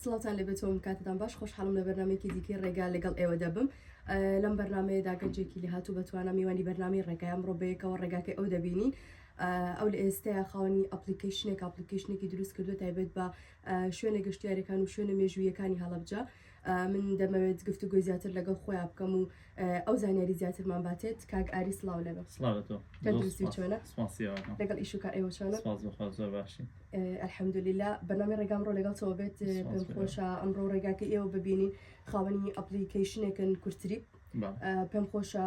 سڵاوتان لێبێت تۆم کاتتان باش خۆشحاڵم لە بەرنمێکی دیکەی ڕێگا لەگەڵ ئێوە دەبم لەم بەرنمەیەدا گەنجێکی لە هاتوو بەتوانە میوانی بەرنامی ڕێگای ئەمڕۆ بەیەکەوە ڕێگاکەی ئەو دەبینین ئەو لە ئێستەیە خاوەنی ئەپلیکیشنێک ئەپلیکیشنێکی دروست کردو تایبێت بە شوێنە گەشتیارەکان و شوێنە مێژوویەکانی هەڵبجە من دەمەوێت گفتوگۆی زیاتر لەگەڵ خۆیان بکەم و ئەو زانیاری زیاترمان باتێت کاک ئاری سلااو لەگە لەگەڵ ئیش و کار ئێوە چۆنە زۆر باشی ئەلحەمدلیلا بەنامی ڕێگام ڕۆ لەگەڵ تۆ بێت پێم خۆشە ئەمڕۆ ڕێگاکە ئێوە ببینین خاوەنی ئەپلیکیشنێکن کورتری پێم خۆشە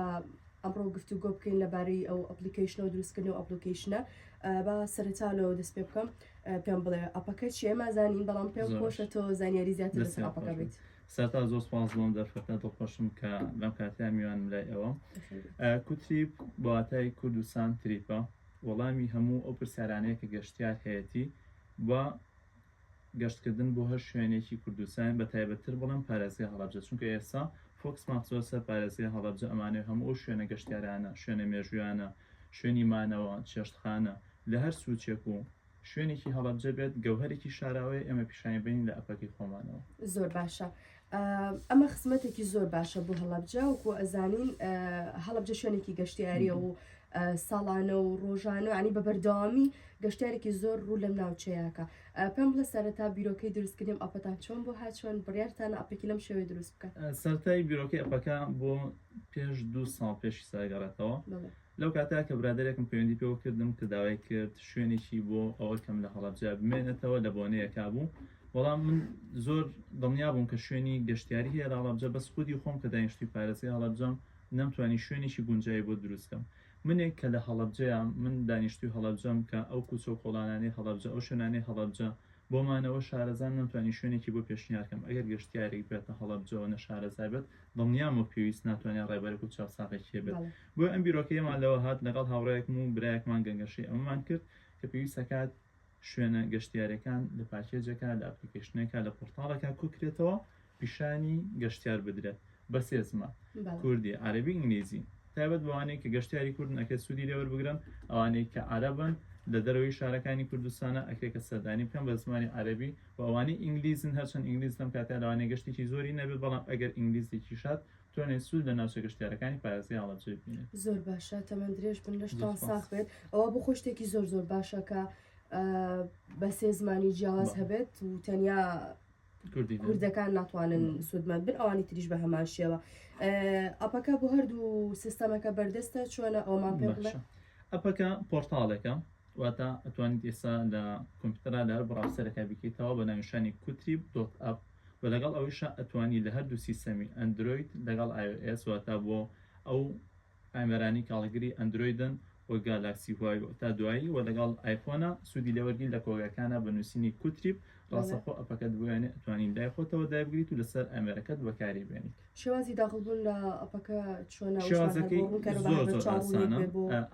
ئەمڕۆ گفتو گۆ بکەین لەبارەی ئەو ئەپلیکیشن و دروستکردن و ئەپلیکیشنە با سەرتا لەوە دەست پێ بکەم پێم بڵێ ئەپەکە چیە مازانین بەڵام پێم خۆشە تۆ زانیاری زیاتر لەسەر ئەپەکە بێت سەرتا زۆر سپاس بۆم دەرفەتە دڵخۆشم کە لەم کاتیا میوان لای ئەوەم کوتریپ بۆاتای کوردستان تریپە وەڵامی هەموو ئەو پرسیارانەیە کە گەشتیار هەیەتی بە گەشتکردن بۆ هەر شوێنێکی کوردستان بە تایبەتتر بڵم پارێزگە هەڵبجە چونکە ئێستا فۆکس ماخزۆر سەر پارێزگە هەڵبجە ئەمانێ هەموو ئەو شوێنە گەشتیارانە شوێنە مێژویانە شوێنی مانەوە، چێشتخانە، لە هەر سوچێک و شوێنێکی هەڵەبجە بێت، گەوهەرێکی شاراوەیە ئێمە پیشانی بەین لە ئەپەکەی خۆمانەوە. زۆر باشە ئەمە خزمەتێکی زۆر باشە بۆ هەڵەبجە وکو ئەزانین هەڵبجە شوێنێکی گەشتیاریە و ساڵانە و ڕۆژانە عنی بە بەردەوامی گەشتارێکی زۆر ڕوو لەم ناوچەیەکە پێم بڵە سەرەتا بیرۆکەی دروستکردنیم ئەپەتان چۆن بۆ هاچۆن بڕارتان ئەپێکی لەم شێوەی دروست بکە سەرای بیرۆکەی ئەپەکە بۆ پێش دوو ساڵ پێش ساگەڕێتەوە لەو کاتە کە برادێکم پەیوەندی پێوە کردم کە داوای کرد شوێنێکی بۆ ئەوە کەم لە هەڵەبجە بمێنێتەوە لە بۆنەیەکا بوو بەڵام من زۆر دڵنیا بووم کە شوێنی گەشتیاری هەیە لە هەڵەبجە بەس خودی خۆم کە داینشتی پارێزگای هەڵەبجەم نەمتوانی شوێنێکی گونجایی بۆ دروستکەم منێک کە لە هەڵەبجەیە من دانیشتوی هەڵەبجەم کە ئەو کوچە و کۆڵانانی هەڵەبجە ئەو شوێنانی هەڵەبجە بۆ مانەوە شارەزان نەمتوانی شوێنێکی بۆ پێشنیار کەم ئەگەر گەشتیارێک بێتە هەڵەبجەوە نەشارەزا بێت دڵنیام وەک پێویست ناتوانێت ڕێبەرێک و چاوساغێکی هەبێت بەڵێ بۆیە ئەم بیرۆکەیەمان لەوە هات لەگەڵ هاوڕێیەکم و برایەکمان گەنگەشەی ئەمەمان کرد کە پێویست ئەکات شوێنە گەشتیاریەکان لە پاکێجێکا لە ئەپلیکەیشنێکا لە پۆرتاڵێکا کۆکرێتەوە پیشانی گەشتیار بدرێت بە سێ زمان، کوردی، عەرەبی، ئینگلیزی، تایبەت بەوانەی کە گەشتیاری کوردن ئەکرێت سوودی لێ وەربگرن، ئەوانەی کە عەرەبن لە دەرەوەی شارەکانی کوردستانە ئەکرێت کە سەردانی بکەن بە زمانی عەرەبی و ئەوانەی ئینگلیزن هەرچەند ئینگلیز لەم کاتەیا لەوانەیە گەشتێکی زۆری نەبێت بەڵام ئەگەر ئینگلیزێکیش هات توانێت سوود لە ناوچە گەشتیارەکانی پارێزگای هەڵەبجە ببینێت. زۆر باشە تەمەن درێژ بن لەشتان ساخ بێت ئەوە بۆ خۆی شتێکی زۆر زۆر باشە کە بە سێ زمانی جیاواز هەبێت و تەنیا کوردەکان ناتوانن سوودمەند بن ئەوانی تریش بە هەمان شێوە ئەپەکە بۆ هەردوو سیستەمەکە بەردەستە چۆنە ئەومان پێ بڵێ ئەپەکە پۆرتاڵێکە واتە ئەتوانیت ئێستا لە کۆمپیوتەرا لە هەر بڕاوسەرەکە بکەیتەوە بە ناویشانی کوتریب دۆت ئەپ و لەگەڵ ئەویشە ئەتوانی لە هەردوو سیستەمی ئەندروید لەگەڵ iOS واتە بۆ ئەو ئامێرانی کاڵگری ئەندرۆیدن وەک گالاکسی هواوی تا دوایی و لەگەڵ ئایفۆنە سوودی لێوەرگین لە کۆگاکانە بە نووسینی کوتریپ ڕاستەخۆ ئەپەکەت بۆیانێ ئەتوانین لای خۆتەوە دایبگریت و لەسەر ئامێرەکەت بەکاری بێنیت شێوازی داخڵبوون لە ئەپەکە چۆنە شێوازەکەی زۆر زۆر ئاسانە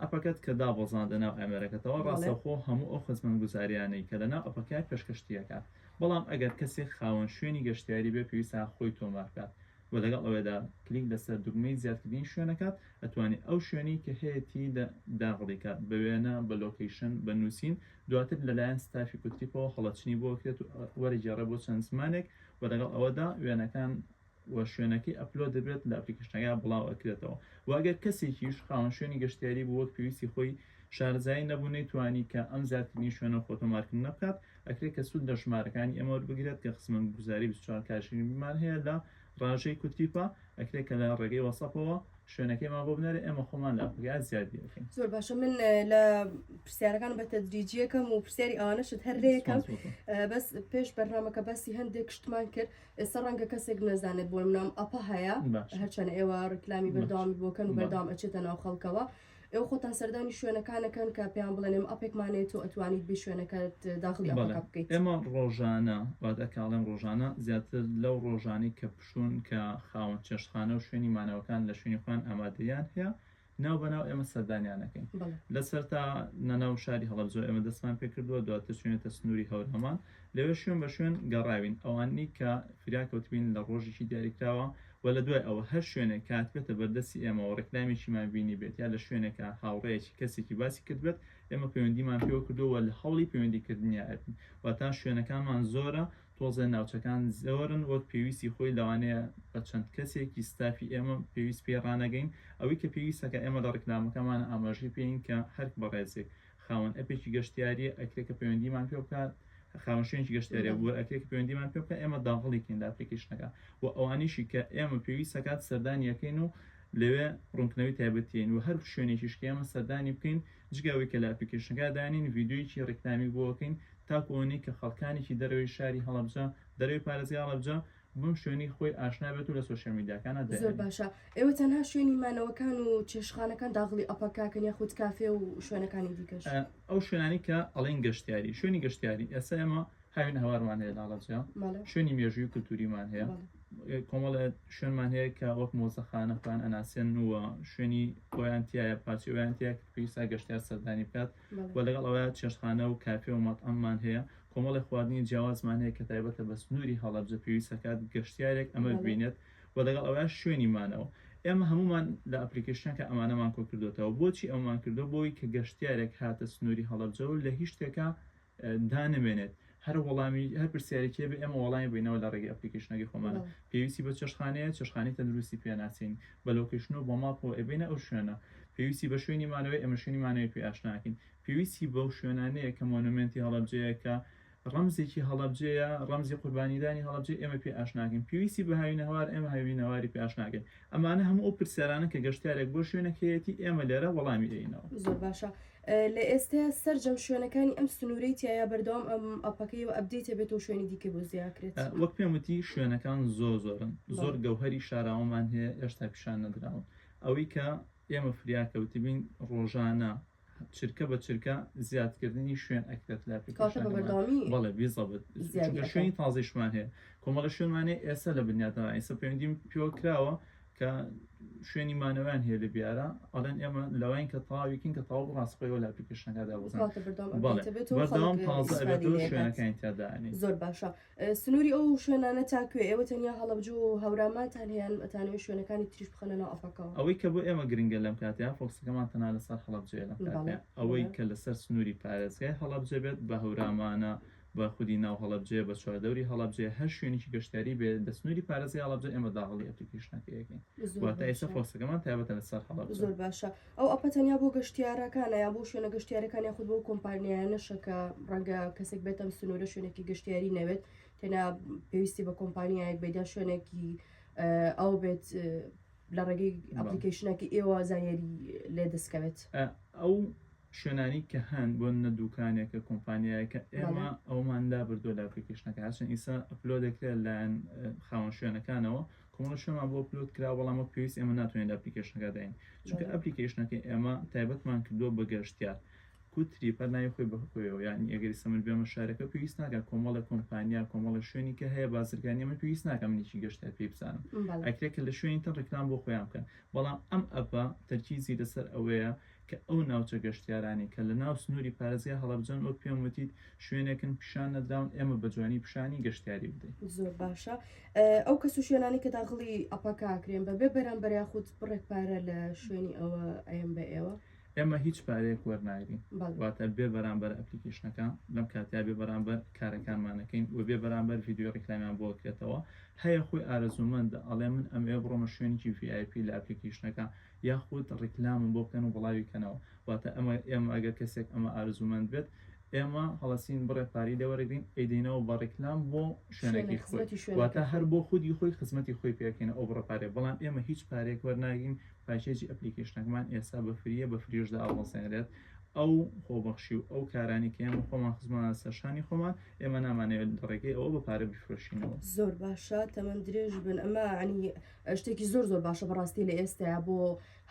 ئەپەکەت کە دابەزاندە ناو ئامێرەکەتەوە ڕاستەخۆ هەموو ئەو خزمەت گوزاریانەی کە لەناو ئەپەکە پێشکەشتیەکە بەڵام ئەگەر کەسێک خاوەن شوێنی گەشتیاری بێ پێویستە خۆی تۆمار بکات وە لەگەڵ ئەوەیدا کلیک لەسەر دوگمەی زیادکردنی شوێنە کات ئەتوانی ئەو شوێنەی کە هەیەتی داغڵی کات بە وێنە بە لۆکەیشن بە نوسین دواتر لەلایەن ستافی کوتریپەوە هەڵەچنی بۆ کرێت و وەرەگێڕێ بۆ چەند زمانێک وە لەگەڵ ئەوەدا وێنەکان و شوێنەکەی ئەپلۆد دەبێت لە ئەپلیکەشنەکە بڵاو ئەکرێتەوە وە گەر کەسێکیش خاوەن شوێنی گەشتیاری بوو وەک پێویستی خۆی شارەزایی نەبوو نەیتوانی کە ئەم زیادکردنی شوێنە خۆ تۆمارکردنە بکات ئەکرێت کە سوود لە ژمارەکانی ئێمە وەربگرێت کە خزمەتگوزاری بیست و چوار کاتژمێرمان هەیە لە ڕاژەی کورتیپا ئەکرێت کە لە ڕێگەی وەسەپەوە شوێنەکەیمان بۆ بنێرێت ئێمە خۆمان لە ئەپەکە زیاد بیەکەین زۆر باشە من لە پرسیارەکان بە تەدریجیەکەم و پرسیاری ئەوانەشت هەر لەیەکەم بەس پێش بەرنمەکە باسی هەندێک شتمان کرد ئێستا ڕەنگە کەسێک نەزانێت بۆ منام ئەپە هەیە هەرچەند ئێوە ڕیکلامی بەرداوامی بۆکەن و بەردام ئەچێتە ناو خەڵکەوە ئێوە خۆتان سەردانی شوێنەکانەکەن کە پێیان بڵێن ئێمە ئەپێکمان هەیە تۆ ئەتوانیت بێی شوێنەکەت داخلی ئەپەکە بکەیت؟ بەڵێ ئێمە ڕۆژانە واتە کە ئەڵێم ڕۆژانە زیاتر لەو ڕۆژانەی کە پشوون کە خاوەن چێشتخانە و شوێنی مانەوەکان لە شوێنی خۆیان ئامادەییان هەیە ناو بە ناو ئێمە سەردانیان ئەکەین لە سەرتا نەناو شاری هەڵەبجەوە ئێمە دەستمان پێکردووە دواتر چووینەتە سنووری هەورامان لەوێ شوێن بە شوێن گەڕاوین ئەوانەی کە فریا کەوتبین لە ڕۆژێکی دیاریکراوە و لە دوای ئەوە هەر شوێنێک کە هاتبێتە بەردەستی ئێمە و ڕێکلامێکیمان بینیبێت یا لە شوێنێکا هاوڕێیەکی کەسێکی باسی کردبێت ئێمە پەیوەندیمان پێوە کردووە و لە هەوڵی پەیوەندی کردنیا ئەبین واتە شوێنەکانمان زۆرە تۆزێ ناوچەکان زۆرن وەک پێویستی خۆی لەوانەیە بە چەند کەسێکی ستافی ئێمە پێویست پێی ڕانەگەین ئەوەی کە پێویستەکە ئێمە لە ڕێکلامەکەمانە ئاماژەی پێین کە هەر بەڕێزێک خاوەن ئەپێکی گەشتیاریە ئەکرێ کە پەیوەندیمان پێ بکات خاوەن شوێنی گەشتیارە بۆ ئەکرێ کە پەیوەندیمان پێ بکە ئێمە داغڵیکەین لە ئەپلیکیشنەکە و ئەوانیشی کە ئێمە پێویستەکات سەردانیەکەین و لەوێ ڕوونکردنەوەی تایبەتین و هەر شوێنێکیش کە ئێمە سەردانی بکەین جگەوەی کە لە ئەپلیکیشنەکە دانین ڤیددیویی ڕیکلامی بۆکەین تاکوۆنی کە خەڵکانێکی دەرەوەی شاری هەڵەبجە دەرەوەی پارێزگا هەڵەبجە بۆ شوێنی خۆی ئاشنا بێت و لە سۆشیال میدیاکانە دەهێنێت. زۆر باشە ئێوە تەنها شوێنی مانەوەکان و چێشتخانەکان داغڵی ئەپەکاکەن یاخود کافێ و شوێنەکانی دیکەش؟ ئەو شوێنانی کە ئەڵێن گەشتیاری شوێنی گەشتیاری ئێستا ئێمە هاوین هەوارمان هەیە لاڵەجیا شوێنی مێژووی کللتوریمان هەیە کۆمەڵە شوێنمان هەیە کە وەک مۆزەخانەخان ئەناسێن و شوێنی خۆیان تایە پارچەوەیان تیا پێویستا گەشتار سەردانی بکات و لەگەڵ ئەوەیە چێشتخانە و کافێ و مەتعەممان هەیە، کۆمەڵێ خواردنی جیاوازمان هەیە کە تایبەتە بە سنووری هەڵەبجە، پێویست ئەکات گەشتیارێک ئەمە ببینێت و لەگەڵ ئەوەیش شوێنی مانەوە ئێمە هەموومان لە ئەپلیکەیشنەکە ئەمانەمان کۆ کردۆتەوە، بۆچی ئەوەمان کردووە بۆ ئەوەی کە گەشتیارێک هاتە سنووری هەڵەبجە و لە هیچ شتێکا دانمێنێت هەر وەڵامی هەر پرسیارێکی بێ ئێمە وەڵامی بینەوە لە ڕێگەی ئەپلیکیشنەکەی خۆمانە پێویستی بە چێشخانەیە چێشخانی تەندروستی پێ ناسین بە لۆکیشن و بۆ ماپۆ ئەبینە ئەو شوێنە پێویستی بە شوێنی مانەوەی ئەمە شوێنی مانەوەی پێ ئاشناکەین پێویستی بەو شوێنانەیە کە مۆنومنتی هەڵەبجەیەکە ڕەمزێکی هەڵەبجەیە ڕەمزی قوربانیدانی هەڵەبجە ئێمە پێ ئاشناکەین پێویستی بە هاوینەوار ئێمە هاوینەواری پێ ئاشناکەین ئەمانە هەموو ئەو پرسیارانە کە گەشتارێک بۆ شوێنەکەیەتی ئێمە لێرە وەڵامی دەینەوە زۆر باشە لە ئێستەیا سەرجەم شوێنەکانی ئەم سنوورەی تیایا بەردەوام ئەم ئەپەکەی و ئەبدەی تێبێتەوە شوێنی دیکە بۆ زیاکرێت وەک پێم وتی شوێنەکان زۆ زۆرن زۆر گەوهری شاراوەمان هەیە ئێشتا پیشان نەدراون ئەوەی کە ئێمە فریاکەوتبین ڕۆژانە چرکە بە چرکە زیادکردنی شوێن ئەکرێت لە بەڵێ بیزەبت شوێنی تازیشمان هەیە کۆمەڵە شوێنمانێ ئێستا لە بنیاتەوە ئیسە پەیوەندیم پێوە کراوە کە شوێنی مانەوەیان هەیە لە بیارە ئەڵێن ئێمە لەوین کە تاویکین کە تاو ڕاستخۆیەوە لە ئەپلیکیشنەکەدا بەڵام تازە شوێنەکانی تیادانی زۆر باشە سنووری ئەو شوێنانە تاکوێ ئێوە تەنیا هەڵبجو و هەورامانتان هەیەیان ئەتانوێ شوێنەکانی تریش بخەنە ناو ئەفەکەەوە ئەوەی کە بۆ ئێمە گرنگە لەم کاتیا فۆکسەکەمان تەنا لەسەر هەڵبجێ لە ئەوەی کە لەسەر سنووری پارێزگای هەڵبجە بێت بە هەورامانە بە خودی ناو هەڵەبجەیە بە چواردەوری هەڵەبجەیە هەر شوێنێکی گەشتیاری بێ دە سنووری پارێزگای هەڵەبجە ئێمە داهاڵی ئەپلیکیشنەکەی ئەکەین زۆر واتە ئێستا باشە پرۆسەکەمان تایبەتە لەسەر هەڵەبجە زۆر باشە ئەو ئەپە تەنیا بۆ گەشتیارەکانە یان بۆ شوێنە گەشتیارەکان یاخود بۆ کۆمپانیایانەشە کە ڕەنگە کەسێک بێت ئەم سنوورە شوێنێکی گەشتیاری نەوێت تەنیا پێویستی بە کۆمپانیایەک بێت یا شوێنێکی ئەو بێت لە ڕێگەی ئەپلیکەیشنەکی ئێوە زانیاری لێ دەستکەوێت ئەو شوێنانی کە هەن بۆ نە دوکانێکە کۆمپانیایەکە ئێمە ئەومان لا بردو لە ئەپلیکەشنەکە هەچەند ئیسا ئەپلۆ دەکرێت لایەن خاوەن شوێنەکانەوە کۆمەڵە شوێمان بۆ پلوت کرا بەڵامە پێویست ئێمە ناتوانین لە ئەپلیکەشنەکە داین چونکە ئەپلیکەشنەکە ئێمە تایبەتمان کردووە بە گەشتیار کو تریپە ناوی خۆی بەخۆیەوە یانی ئەگەری سەمن بێمە شارەکە پێویست ناکە کۆمەڵە کۆمپانیا کۆمەڵە شوێنی کە هەیە بازرگانی من پێویست ناکە منێکی گەشتە پێی بزانم ئەکرێ کە لە شوێنی تر ڕکلام بۆ خۆیان بکەن بەڵام ئەم ئەپە تەرکیزی لەسەر ئەوەیە کە ئەو ناوچە گەشتیارانی کە لە ناو سنووری پارێزگای هەڵەبجەن وەک پێم وتیت شوێنێکن پیشان نەدراون ئێمە بە جوانی پیشانی گەشتیاری بدەین زۆر باشە ئەو کەس و شوێنانی کە داغڵی ئەپەکە کرێن بەبێ بەرامبەر یاخود بڕێک پارە لە شوێنی ئەوە ئەم بە ئێوە ئێمە هیچ پارەیەک وەرناگرین واتە بێ بەرامبەر ئەپلیکیشنەکە لەم کاتیا بێ بەرامبەر کارەکانمانەکەین و بێ بەرامبەر یددیو ڕیکلامیان بۆ کرێتەوە هەیە خۆی ئارەزوومەندە ئەڵێ من ئەمەوێ بڕۆمە شوێنێکی VIP لە ئەپلیکیشنەکە یاخود ڕیکلامم بۆ بکەن و بڵاوی کەنەوە واتە ئەمە ئێمە ئەگەر کەسێک ئەمە ئارەزوومەند بێت ئێمە هەڵەسین بڕێ پاری لێوەرەگرین ئەیدەینەوە بە ڕیکلام بۆ شوێنێکی خۆی واتە هەر بۆ خودی خۆی خزمەتی خۆی پێکەین ئەو بڕە پارێ بەڵام ئێمە هیچ پارێک وەرناگرین پاکێجی ئەپلیکەیشنەکەمان ئێستا بە فریە بە فریش داوەزێنرێت ئەو خۆبەخشی و ئەو کارانی کە ئێمە خۆمان خزمانە سەرشانی خۆمان ئێمە نامانەوێت دەڕێگەی ئەوە بە پارە بفرۆشینەوە زۆر باشە تەمەند درێژ بن ئەمە عنی شتێکی زۆر زۆر باشە بەڕاستی لە ئێستا بۆ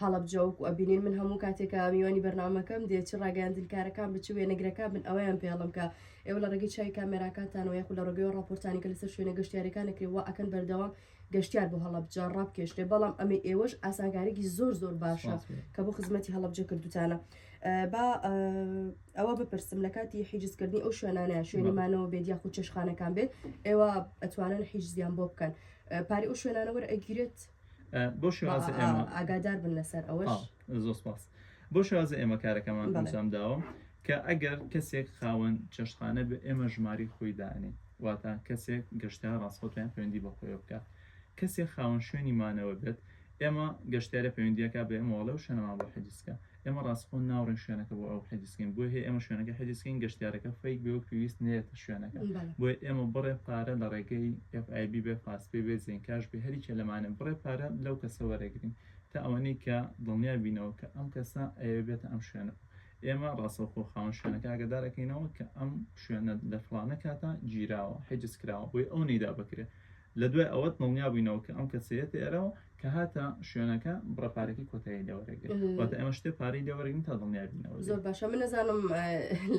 هەڵبجەوەک و ئەبینین من هەموو کاتێکە میوانی بەرنمەکەم دێت چ ڕاگەاندنکارەکان بچ وێنەگرەکە بن ئەویان پێڵم کە ئێوە لە ڕێگەی چای کامێراکانتانەوە یخ لە ڕگەوە ڕاپۆرتانی کە لەسەر شوێنە گەشتارەکانەکرێ و ئەکەن بەردەوام گەشتیار بۆ هەڵەبجە ڕابکێشرێ بەڵام ئەمەی ئێوەش ئاسانکارێکی زۆر زۆر باشە کە بۆ خزمەتی هەڵەبجە کردوتانە با ئەوە بپرسم لە کاتی حیجزکردنی ئەو شوێنانە شوێنمانەوە بێت یا خود چێشخانەکان بێت ئێوە ئەتوانن حیجزیان بۆ بکەن پاری ئەو شوێنانەوە ئەگیرێت بۆ ئاگادار بن لەسەر ئەوەش زۆر سپاس بۆ شازە ئێمە کارەکەمان ئەنجام داوە کە ئەگەر کەسێک خاوەن چێشتخانە بە ئێمە ژماری خۆی دانێ واتە کەسێک گەشتە ڕاستخۆتیان پەیوەندی بە خۆی بکات کەسێک خاوەن شوێنی مانەوە بێت ئێمە گەشتارە پەیوەندیەکە بە ئێمەواڵە و شوێنەوە بۆ حەدیسکە ئێمە ڕاستخۆن ناوڕێن شوێنەکە بۆ ئەو حەدیسکەین بۆ هەیە ئێمە شوێنەکە حەدیسکەین گەشتارەکە فیک بێ و پێویست نێتە شوێنەکە بۆی ئێمە بڕێ پارە لە ڕێگەی FIB بێ پاسپێ بێ زیین کاش بێ هەریکە لەمانە بڕێ پارە لەو کەسە وەرەگرین تا ئەوەنەی کە دڵنیا بینەوە کە ئەم کەسە ئەیەوێ بێتە ئەم شوێنە ئێمە ڕاستەوخۆ خاوەن شوێنەکە ئاگادار ئەکەینەوە کە ئەم شوێنە لە فڵانە کاتە گیراوە حجز کراوە بۆی ئەو نەیدا بکرێ لە دوای ئەوە دڵنیا بووینەوە کە ئەم کەسەیەت ئێرەوە کە هاتە شوێنەکە بڕە پارەکەی کۆتایی لێوەرەگرێت واتە ئێمە شتێ پارەی لێوەرەگرین تا دڵنیا بینەوە زۆر باشە من نەزانم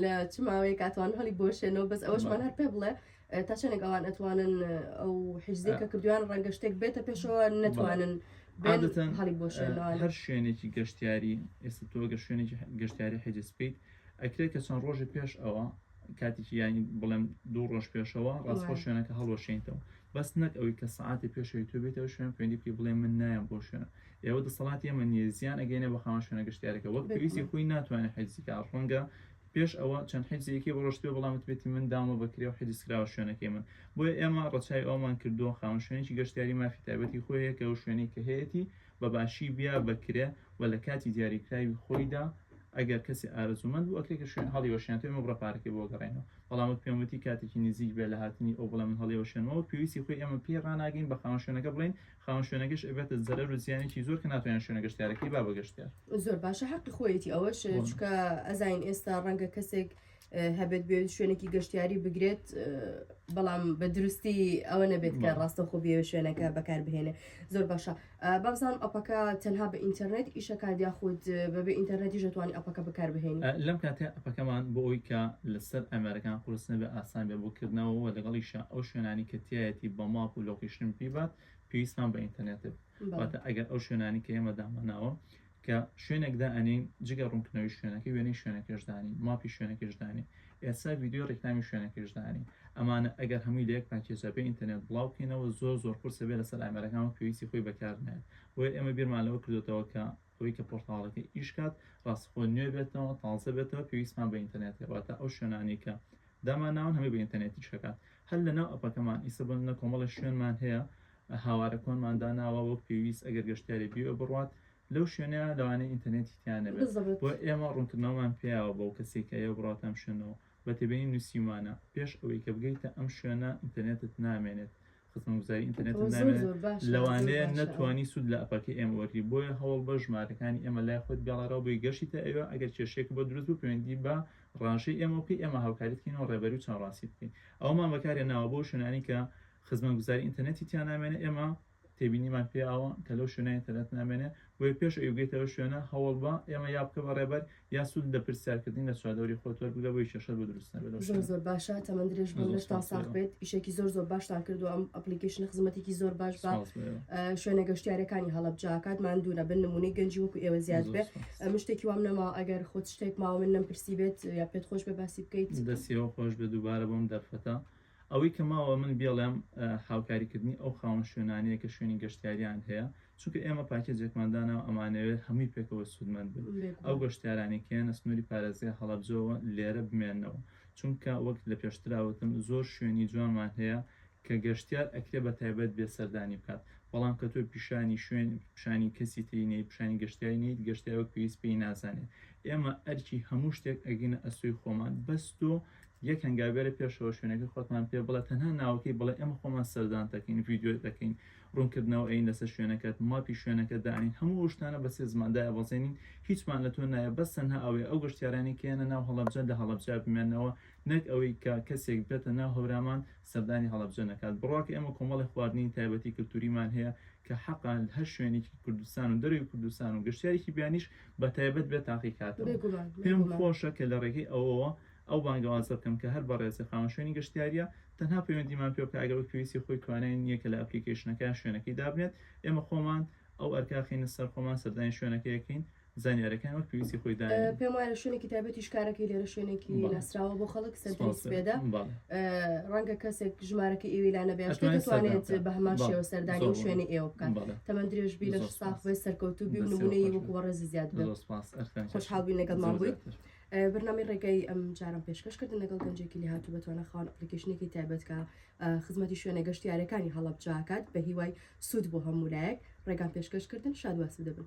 لە چ ماوەیەک کاتوان هەڵی بۆشێنەوە بەس ئەوەشمان هەر پێ بڵێ تا چەنێک ئەوان ئەتوانن ئەو حیزدی کە کردویان ڕەنگە شتێک بێتە پێشەوە نەتوانن بێتەن هەڵی بۆ شوێنەوە هەر شوێنێکی گەشتیاری ئێستا تۆگە شوێنێکی گەشتیاری حیجز بکەیت ئەکرێت کە چەند ڕۆژی پێش ئەوە کاتێکی یانی بڵێم دوو ڕۆژ پێشەوە ڕاستخۆ شوێنەکە هەڵوەشێنیتەوە بەس نەک ئەوی کە سعاتی پێشەوەی تو بێتەوە شوێن پێندی بکەی بڵێ من نایەن بۆ شوێنە ئێوە دەسەڵاتی ئەمە نیە زیان ئەگەینە بە خاوەن شوێنە گەشتارەکە وەک پێویستی خۆی ناتوانێت حیزیکە ڕەنگە پێش ئەوە چەند حجزێکی بڕۆشتبێ بەڵام وتبێتی من داومە بە کرێ و حجزکراوە شوێنەکەی من بۆیە ئێمە ڕەچای ئەومان کردووە خاوەن شوێنێکی گەشتیاری مافی تایبەتی خۆی هەیە کە ئەو شوێنەی کە هەیەتی بە باشی بیا بە کرێ و لە کاتی دیاریکراوی خۆیدا ئەگەر کەسی ئارەزوومەند بوو ئەکرێت کە شوێن هەڵی وەشێنێتەوە ئێمە بڕە پارەکەی بۆ گەڕێنەوە بەڵام وت پێم وتی کاتێکی نزیک بێ لە هاتنی ئەو بڵێ من هەڵی وەشێنمەوە پێویستی خۆی ئێمە پێی ڕاناگەین بە خاوەن شوێنەکە بڵێین خاوەن شوێنەکەش ئەبێتە زەرەر و زیانێکی زۆر کە ناتوانێت شوێنە گەشتیارەکەی با بە گەشتیار زۆر باشە حەقی خۆیەتی ئەوەش بۆن. چکە ئەزانین ئێستا ڕەنگە کەسێک اه، هەبێت بێت شوێنێکی گەشتیاری بگرێت اه، بەڵام بە دروستی ئەوە نەبێت کە بەڵێ. ڕاستەخۆ بێ شوێنەکە بەکار بهێنێ زۆر باشە اه، بابزانم ئەپەکە تەنها بە ئینتەرنێت ئیشەکات یاخود اه، بەبێ ئینتەرنێتیش دەتوانانی ئەپەکە بەکار بهێنی ئە، لەم کاتێ پەکەمان بۆ ئەوەی کە لەسەر ئامێرەکان قورس نەبێت ئاسان بێت بۆ کردنەوە و لەگەڵیشا ئەو شوێنانەی کە تیایەتی بە ماپ و لۆکەیشن پێی بات پێویستمان بە ئینتەرنێتە بێت بەڵێ واتە ئەگەر ئەو شوێنانی کە ئێمە داماناوە کە شوێنێک دائەنێین جگە ڕوونکردنەوەی شوێنەکەی وێنەی شوێنەکەش دانێین ماپی شوێنەکەش دانێین ئێستا ڤیدیۆی ڕیکلامی شوێنەکەش دانێین ئەمانە ئەگەر هەمووی لە یەک پاکێجا بێ ئینتەرنێت بڵاو بکەینەوە زۆر زۆر قورسە بێ لەسەر ئامێرەکان و پێویستی خۆی بەکار نایەت بۆیە ئێمە بیرمان لەوە کردۆتەوە کە ئەوەی کە پۆرتاڵەکە ئیش کات ڕاستخۆ نوێ بێتەوە تازە بێتەوە پێویستمان بە ئینتەرنێت هێواتە ئەو شوێنانی کە دامان ناون هەمووی بە ئینتەرنێتی شەکات هەر لە ناو ئەپەکەمان ئیسە بن لە کۆمەڵی شوێنمان هەیە هاوارە کۆنمان داناوە وەک پێویست ئەگەر گەشتیاری بیوە بڕات لەو شوێنە لەوانەیە ئینتەرنێتی تیانەبێت بۆ ئێمە ڕوونکردنەوەمان پیاوە بەو کەسێکە ئەو بڕاتام شوێنەوە بە تێبینی نوسیومانە پێش ئەوەی کە بگەیتە ئەم شوێنە ئینتەرنێتت نامێنێت خزمەتگوزاری ئینتەرنێتت نامێنێت لەوانەیە نەتوانی سود لە ئەپەکەی ئێمە وەرگری بۆیە هەوڵ بە ژمارەکانی ئێمە لای خۆت گەڵارەوە بۆی گەشتیتە ئەوێ ئەگەر کێشەیەک بۆ دروست بوو پەیوەندی بە ڕاژەی ئێمە بکەی ئێمە هاوکاریت کەینەوە ڕێبەری و چاوڕاسی بکەین ئەومان بەکارێناوە بۆ شوێنانی کە خزمەتگوزاری ئینتەرنێتی تیانامێنێ ئێمە تێبینیمان پێ ئاوە کە لەو شوێنە ئینتەرنێت نامێنێ، بۆیە پێش ئەوی بگەیتە ئەو شوێنە هەوڵ بە ئێمە یا بکە بە ڕێبەر یا سوود لە پرسیارکردنی لە چواردەوری خۆت وەربگرە بۆیە کێشەت بۆ دروست نەبێت لەو زۆر شوێنە. زۆر باشە تەمەن درێژ بن زۆر لەشتان سوپاس ساخ لێوە. بێت ئیشێکی زۆر زۆر باشتان کردووە ئەم ئەپلیکیشنە خزمەتێکی زۆر باش بە سوپاس بۆ ئێوە. ئە، شوێنە گەشتیارەکانی هەڵەبجە ئەکات ماندوو نەبن نمونەی گەنجی وەکو ئێوە زیاد زۆر بێ سوپاس. ئە، من شتێکی وام نەماوە ئەگەر خۆت شتێک ماوە من نەمپرسیبێت یا پێت خۆش بێ باسی بکەیت. دەست یەوە خۆش بێت دووبارە بۆم دەرفەتە. ئەوەی کە ماوە من بێڵێم هاوکاری کردنی ئەو خاوەن شوێنانەیە کە شوێنی گەشتیاریان هەیە چونکە ئێمە پاکێجێکمان داناو ئەمانەوێت هەمووی پێکەوە سوودمەند بن ئەو گەشتیارانی کێنە سنووری پارێزگای هەڵەبجەوە لێرە بمێنەوە چونکە وەک لە پێشتراوتم زۆر شوێنی جوانمان هەیە کە گەشتیار ئەکرێ بە تایبەت بێ سەردانی بکات بەڵام کە تۆ پیشانی شوێن پیشانی کەسی تری نەی پیشانی گەشتیاری نیت گەشتیار وەک پێویست پێی نازانێت ئێمە ئەرکی هەموو شتێک ئەگینە ئەسوی خۆمان بەس تۆ یەک هەنگاو بەرە پێشەوە شوێنەکەی خۆتمان پێ بڵێ تەنها ناوەکەی بڵێ ئێمە خۆمان سەردان دەکەین ڤیدیۆ دەکەین ڕوونکردنەوە ئەین لەسەر شوێنەکەت ماپی شوێنەکە دانین هەموو ئەو شتانە بە سێ زمان دایبەزێنین هیچمان لە تۆ نایە بەس تەنها ئەوەیە ئەو گەشتیارانی کە یەنە ناو هەڵەبجە لە هەڵەبجە بمێنەوە نەک ئەوەی کە کەسێک بێتە ناو هەورامان سەردانی هەڵەبجە نەکات بڕواکە ئێمە کۆمەڵێ خواردنی تایبەتی کلتوریمان هەیە کە حەقە هەر شوێنێکی کوردستان و دەرەوەی کوردستان و گەشتیارێکی بیانیش بە تایبەت بێ تاقیکاتەوە پێم خۆشە کە لە ڕێگەی ئەوەوە ئەو بانگەوازە بکەم کە هەر بەڕێزی خاوەن شوێنی گەشتیاریە تەنها پەیوەندیمان پێ بکە ئەگەر وەک پێویستی خۆی توانای نییە کە لە ئەپلیکەیشنەکە شوێنەکەی دابنێت ئێمە خۆمان ئەو ئەرکە خینە سەر خۆمان سەردانی شوێنەکەیەکەین زانیارەکان وەک پێویستی خۆی دا پێم وایە شوێنێکی تایبەتی شکارەکەی لێرە شوێنێکی ناسراوە بۆ خەڵک سەرپێدا ڕەنگە کەسێک ژمارەکەی ئێوەی لا نەبێ شتێ ئەتوانێت سەردان دەتوانێت بکات. بە هەمان بەڵێ. شێوە سەردانی زۆر ئەو بۆ شوێنی ئێوە بکات بەڵێ. تەمەن درێژ بی لە زۆر ساخ سپاس. بێ سەرکەوتوو بی و دەستەوە نمونەی خۆش وەکو بێت. بەڕێزی زیاد بێ زۆر سپاس ئەرکان کەس. خۆشحاڵ بووین لەگەڵمان زۆر بوویت. زیاتر. بەرنامەی ڕێگای ئەم جارەم پێشکەش کردن لەگەڵ گەنجێکی لێهاتوو بەتوانا خاوەن ئەپلیکەیشنێکی تایبەت کە ئا، خزمەتی شوێنە گەشتیارەکانی هەڵەبجە ئەکات بە هیوای سوود بۆ هەموو لایەک ڕێگام پێشکەش کردن شاد و ئاسوودە بن.